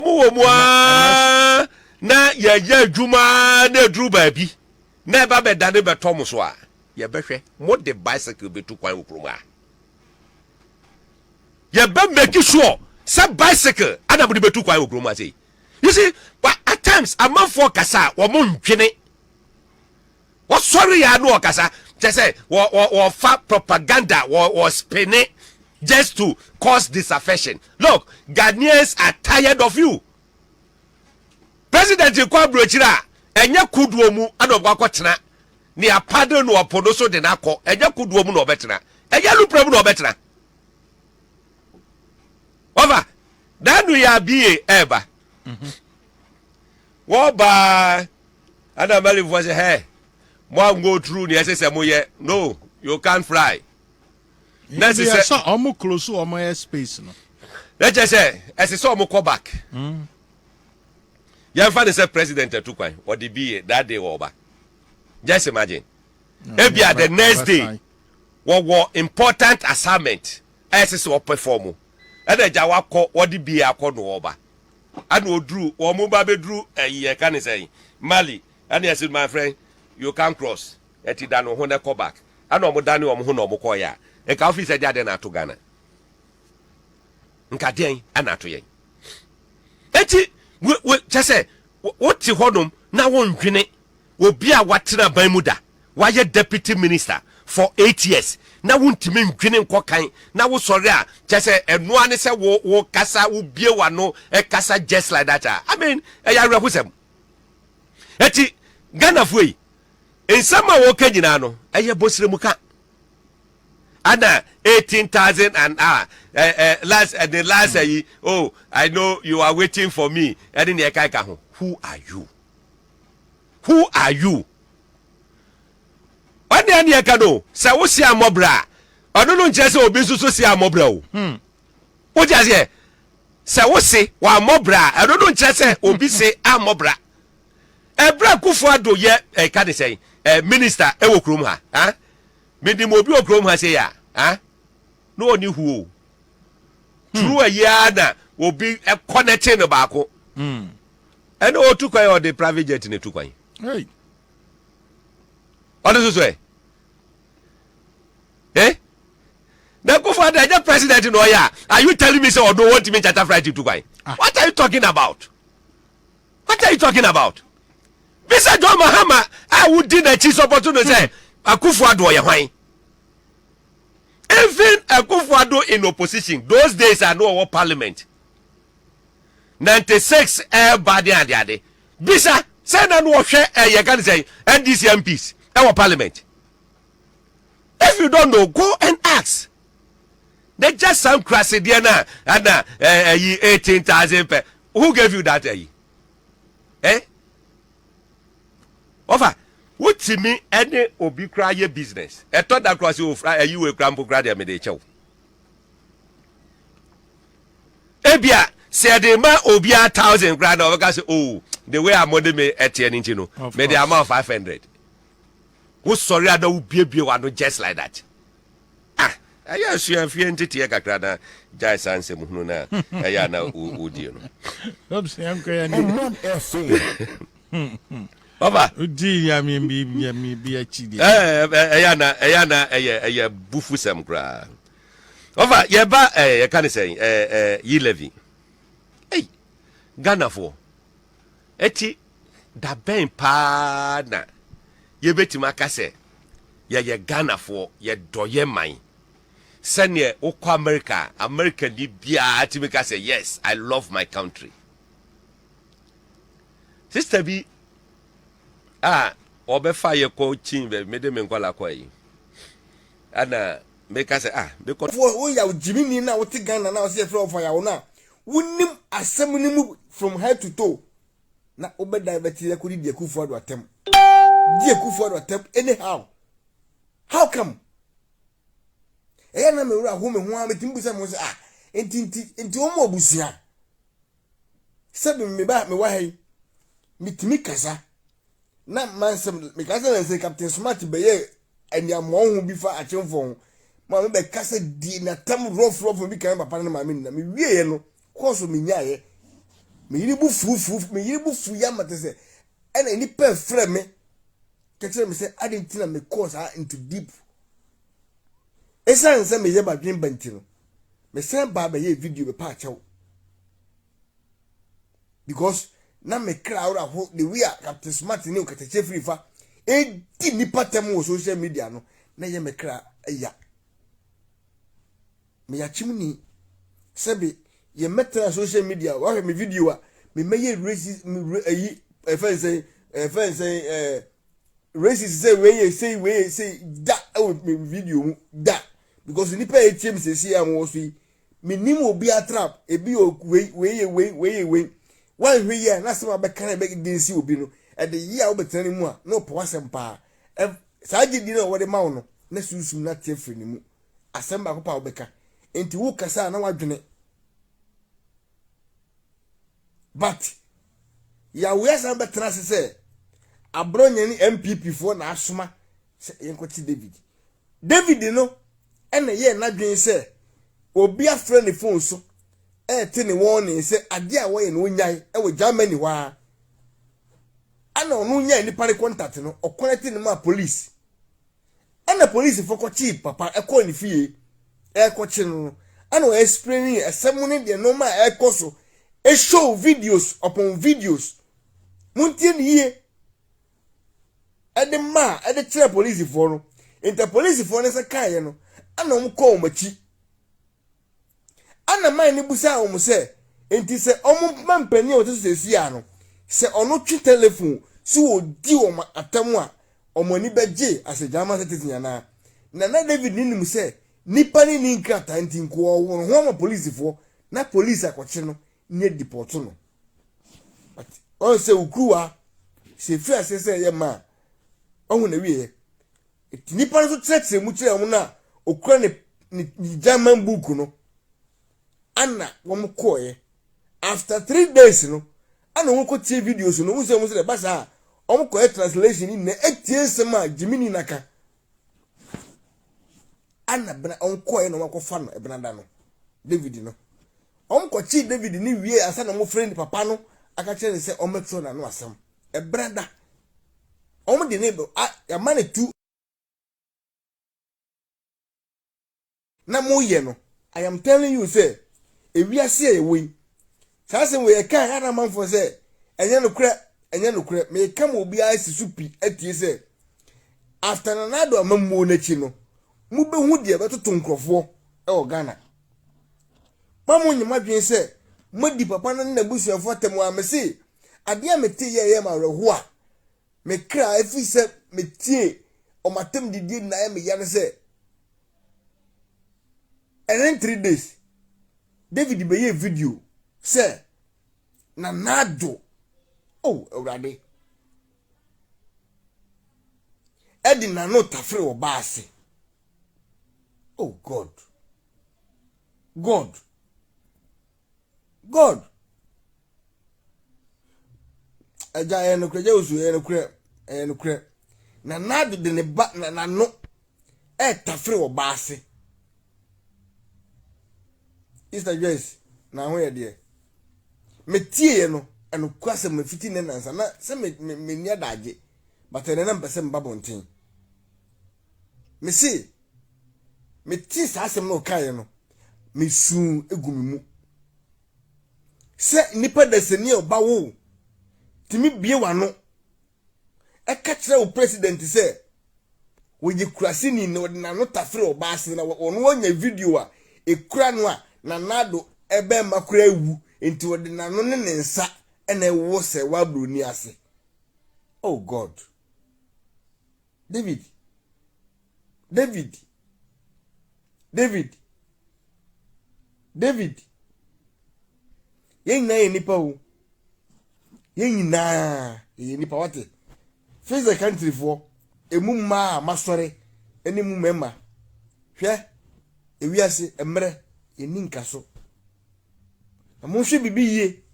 wɔn wɔ mu ara na yɛyɛ adwuma na aduru baabi na ɛba bɛdane bɛtɔ mo so a yɛbɛhwɛ mode bicycle bɛtu kwan wɔ kurom a yɛbɛ make sure sɛ bicycle ana mode bɛtu kwan wɔ kurom a sei you see at times amanfoɔ kasa a wɔn ndwene Wɔsɔre yɛ a na wɔkasa. Kyerɛ sɛ, wɔ, wɔ, wɔfa propaganda, wɔ, wɔspene just to cause disaffection. Look, Ghanaians are tired of you. President kɔ aburokyiri a, ɛnyɛ kodoɔ mu na ɔbɛkɔ akɔtena. Ne apade no ɔpo no so de no akɔ. Ɛnyɛ kodoɔ mu na ɔbɛtena. Ɛnyɛ lupra mu na ɔbɛtena. Wɔfa, n'ano yɛ abie ɛɛba. Wɔbaa a na Malimfoɔ sɛ hɛ mo an go through nea ɛsɛ sɛ mo yɛ no you can't fly. Na ɛsɛ sɛ. Sɛ ɔmo close ɔmo air space no. Na kyɛ sɛ ɛsɛ sɛ ɔmo kɔ back. Mm. Yɛnfa ne sɛ president atu kwan ɔde bi yɛ that day wɔba. Just imagine. Mm. Ebia the next day wɔwɔ important assignment ɛsɛ sɛ ɔpɛ fɔm Ɛna agya wakɔ wɔde bee akɔ no wɔn ba ɛna oduru wɔn mo ba bɛduru ɛyi yɛ ka ne sɛn Mali ɛna yɛ se my friend you can cross ɛti dane wo ho na kɔ back ɛna wɔn dane wɔn ho na wɔn kɔɔyɛ a nka wo fi sɛ deɛ adɛn na ato Ghana nka deɛn ɛna ato yɛn ɛti we we kyɛ sɛ wo te hɔ nom na wo ndwene Obi a watena aban mu da, wayɛ Deputy Minister for eight years na wontumi ndwene nkɔ kan na wosɔre a, kyerɛ sɛ ɛno ara ne sɛ wo wo kasa, wo bue w'ano kasa just like that a, I mean, ɛyɛ awerɛhosɛm. Ɛti Ghanafoɔ yi, nsɛm a wɔka nyinaa no, ɛyɛ bɔsrɛmuka. Ana eighteen thousand an hour, eh, eh, last, eh, the last, eh, oh, I know you are waiting for me, ɛne nea ɛka ɛka ho, who are you? Who are you? Ɔne ɛne ɛka no sɛ wo si amɔbrɛ a ɔno no nkyerɛ sɛ obi nso so si amɔbrɛ o. Hmm. Wo ti aseɛ sɛ wo se wɔ amɔbrɛ a ɛno no nkyerɛ sɛ obi se amɔbrɛ. Ɛbrɛ akufo ado yɛ ɛka ne sɛn eh, minister ɛwɔ kurom ha. Ah? Menim obi wɔ kurom ha sɛ yɛ a. No ɔne hu o. Hmm. True ɛyɛ na obi ɛkɔ ne kye no baako. Hmm. Ɛna ɔtu kwan a ɔde private jet na etu kwan. Hey. Ɔde soso ɛ. Eh? Na kofo ada ɛnyɛ president na ɔyɛ a. Are you telling me sɛ ɔno wɔntumi nkyata flight tu kwan? Ah. What are you talking about? What are you talking about? Bisa John Mahama a wodi n'akyi sɔpɔtɔ no sɛ hmm. akofo ado ɔyɛ hwan? Even akofo ado in opposition those days a no ɔwɔ parliament. ninety six ɛɛba ne adeade. Bisa sɛ na no ɔhwɛ ɛɛ yɛka ne sɛn NDC MPs ɛwɔ parliament. If you don't know go and ask. Na gya saa nkurasedeɛ no a ɛna ɛyi eighteen thousand pɛ who gave you that ɛyi eh ɔfa wotumi ɛne obi koraa yɛ business ɛtɔ da koraa sɛ ofura ɛyi wɔ ekura mpo koraa deɛ mede kyɛw. ebia sɛ yɛde ma obiara thousand koraa na ɔbɛka sɛ o oh, the way a mode me ɛteɛ no nti no mede ama wo five hundred wosɔre a na wobiebie wano just like that ah ɛyɛ asuafie nteteɛ kakra na gyae saa nsɛm hunu no a ɛyɛ a na wodie no Ɔba. Wodii Nyame bi Nyame bi akyi deɛ. Ɛɛ ɛyɛ ana ɛyɛ ana ɛyɛ ɛyɛ abufusɛm koraa. Ɔfa yɛ ba ɛɛ yɛka ne sɛn ɛɛ ɛɛ yi levy. Ei Ghanafoɔ ɛti dabɛn paa na yɛbɛtumi aka sɛ yɛyɛ Ghanafoɔ yɛdɔ yɛ man sɛneɛ wokɔ America a Americani biara tumi ka sɛ yes I love my country. Sista bi a ɔbɛfa yɛ kɔ kyin bɛ mede me nkɔla kɔ yi ɛna meka sɛ ah mekɔ. Wo yaw gyimini na wote Ghana na ɔsɛ yɛfrɛ ɔfa yaw no a wonim asɛm no mu from head to toe na wobɛ divert yɛ kɔdi di Akufo Addo atɛm. Di Akufo Addo atɛm anyhow how come Ɛyɛ na me wura ho me ho ara metumi bu sɛ mo sɛ ah nti nti nti wɔn abusua sɛ me me ba me wɔ ha yi metumi kasa na mansɛm meka sɛ na nsɛ captain smart bɛyɛ aniammɔn ho bi fa akyemfo ho ma me bɛkasa di natam rɔforɔfo bi kan papa no maame nna mewieɛ no kɔɔ so menyaeɛ meyere bu fuufuuf meyere bu fuiɛ ama te sɛ ɛna nnipa ɛfrɛ me ka kyerɛ me sɛ ade nti na mekɔɔ saa into deep ɛsiane sɛ meyɛ madwene ba nti no mesan baa bɛyɛ video bɛpa akyɛw because na me kra awora ho the way a captain smart ne nkatakyɛ firi fa ɛdi nipa tɛm wɔ social media no na yɛ me kra ya Meyakyem ni. Sɛbe yɛmmɛtena social media, woahwɛ me video a, memmɛyɛ racist, ayi, ɛfɛn sɛn, ɛfɛn sɛn, ɛɛ, racist sɛ wei yɛ sei, wei yɛ sei, da ɛwɔ me video mu, da. Because nipa a ɛtie me sɛsi a mowɔ so yi, menim obi a trap, ebi yɛ wei, wei yɛ wei, wei yɛ wei. Woanhwɛ yi a, na asɛm a bɛka na ɛbɛ against obi no, ɛde yɛ a wobɛtena ne mu a, na ɔpɛ w'asɛm paa. Saa gyedie no a wɔde ma wo no, na sunsum no ate afiri ne mu. asɛm baako pa wobɛka nti wokasa a na wadwene but yàwó asan bɛtena ase sɛ aborɔnyɛ ne npp foɔ na asoma sɛ yɛnkɔte david david no ɛna yɛ n'adwene sɛ obi afrɛ ne fon so ɛte ne wɔn ne sɛ adeɛ a wɔyɛ no onyae ɛwɔ germany hɔ a ɛna ɔno nyaa nipa ne kɔntate no ɔkɔnɛte ne ma polisi ɛna polisifo kɔkyee papa ɛkɔɔ ne fie ɛrekɔkye no no ɛna ɔyɛ explaining ɛsɛm ne deɛ nneɛma a ɛrekɔ so show videos upon videos montie ne yie ɛde ma a ɛde kyerɛ polisifoɔ no nti polisifoɔ no nsa kaeɛ no ɛna wɔn kɔɔ wɔn akyi. Ɛnna man no bisaa wɔn sɛ, Enti sɛ wɔma mpanyin a wɔte so seesei no, sɛ ɔno twe telefon so di wɔn atɛm a, wɔn ani bɛgye asedrama sɛ tete anaa? Na na David no nim sɛ nnipa no nni nkrataa nti nkoa ɔwɔ no ho ama polisifo na polisi akɔkye no ne adipɔɔto no. But ɔn sɛ wo kuruwa sɛ ɛfiri aseɛ sɛ ɛyɛ ma a, ɔho na wieɛ. Enti nnipa no nso kyerɛkyerɛ mu kyerɛ wɔn na okura ne ne ne German book no ana wɔn kɔɔɛ after three days no ana wɔn kɔ tie videos no wɔn sɛ wɔn sɛ ɛba saa wɔn kɔɛ translation ni na etie nsɛm a gyimini na ka ana bena wɔn kɔɛ na wɔn akɔfa no ebena da no David no wɔn kɔkye David ne wie asa na wɔn fere ne papa no aka kyerɛ ne sɛ wɔn bɛtwerɛ n'ano asɛm ebena da. Wɔn de ne do a yɛama no tu. Na moyɛ no. I am telling you sɛ, ewiase a yɛwɔ yi, saa asɛm wei yɛka a, yɛada amanfoɔ sɛ, ɛnyɛ nokorɛ, ɛnyɛ nokorɛ. Meka ma obiara asi so pi atie sɛ, after Nana Addo amammuo no akyi no, mobɛhu deɛ ɛbɛtoto nkurɔfoɔ wɔ Ghana. Mma monnye mo adwene sɛ moadi papa no ne n'abusuafo atam a. Mise, Ade a metee yɛ yɛɛ me awerɛhow a me kra efii sɛ metiee wɔn atam didie na ayɛ me ya ne sɛ, ɛren three days, David bɛyɛɛ video sɛ Nana Addo, oh Awurade, ɛde n'ano tafere ɔbaa ase. Oh God. God. God. Agya ɛyɛ nokorɛ, agya osu ɛyɛ nokorɛ, ɛyɛ nokorɛ. Na n'ado de ne ba na n'ano ɛretafere wɔ ba ase. Easter Joyce na ho yɛ deɛ. Metie yɛ no ɛnokɔ asɛm no fiti ne nansa na sɛ me me me ni adagye but ɛnɛ na mpɛ sɛ mba bɔnten. Mese, metee saa asɛm na ɔkaeɛ no, mesuu egu me mu. Sɛ nnipa dasani a ɔba wo tumi bie w'ano ɛka kyerɛ wo president sɛ wɔyɛ kuraseni na ɔde n'ano tafere ɔbaa ase na ɔno ɔnya video a ɛkura no a na n'ado ɛbɛma kura awu nti ɔde n'ano ne ne nsa ɛna ɛwɔ sɛ wabroni ase oh god David, David, David, David. Yɛn nyinaa yɛ nipa o. Yɛn nyinaa yɛ nipa wate. Face the country foɔ, emu mmaa a masɔre ɛne mu mmarima. Hwɛ, ewiase mmerɛ, yɛn ni nka so. Na monhwɛ biribi yie.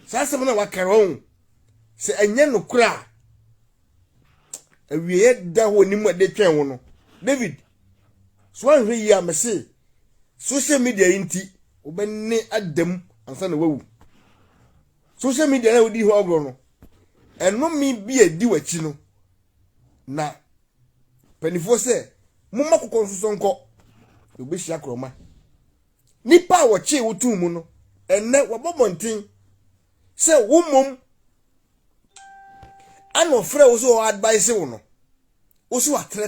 Saa asɛm no a wɔaka hɔ ho, sɛ ɛnyɛ nokorɛ a, awieɛ da hɔ anim a de twɛn wo no. David, so anhwɛ yie a mese social media yi nti wobɛne ada mu ansa na wawu. Social media na wodi ho agorɔ no, ɛnome bi a ɛdi w'akyi no, na mpanimfoɔ sɛ momma kokɔ nsosɔ nkɔ na wobɛhyia korɔma. Nnipa a wɔkyee wo too mu no, ɛnnɛ wɔbɔ mmɔnten sɛ wo mmom ana ɔfrɛ wo sɛ ɔadbaese wo no. Wo so atrɛ.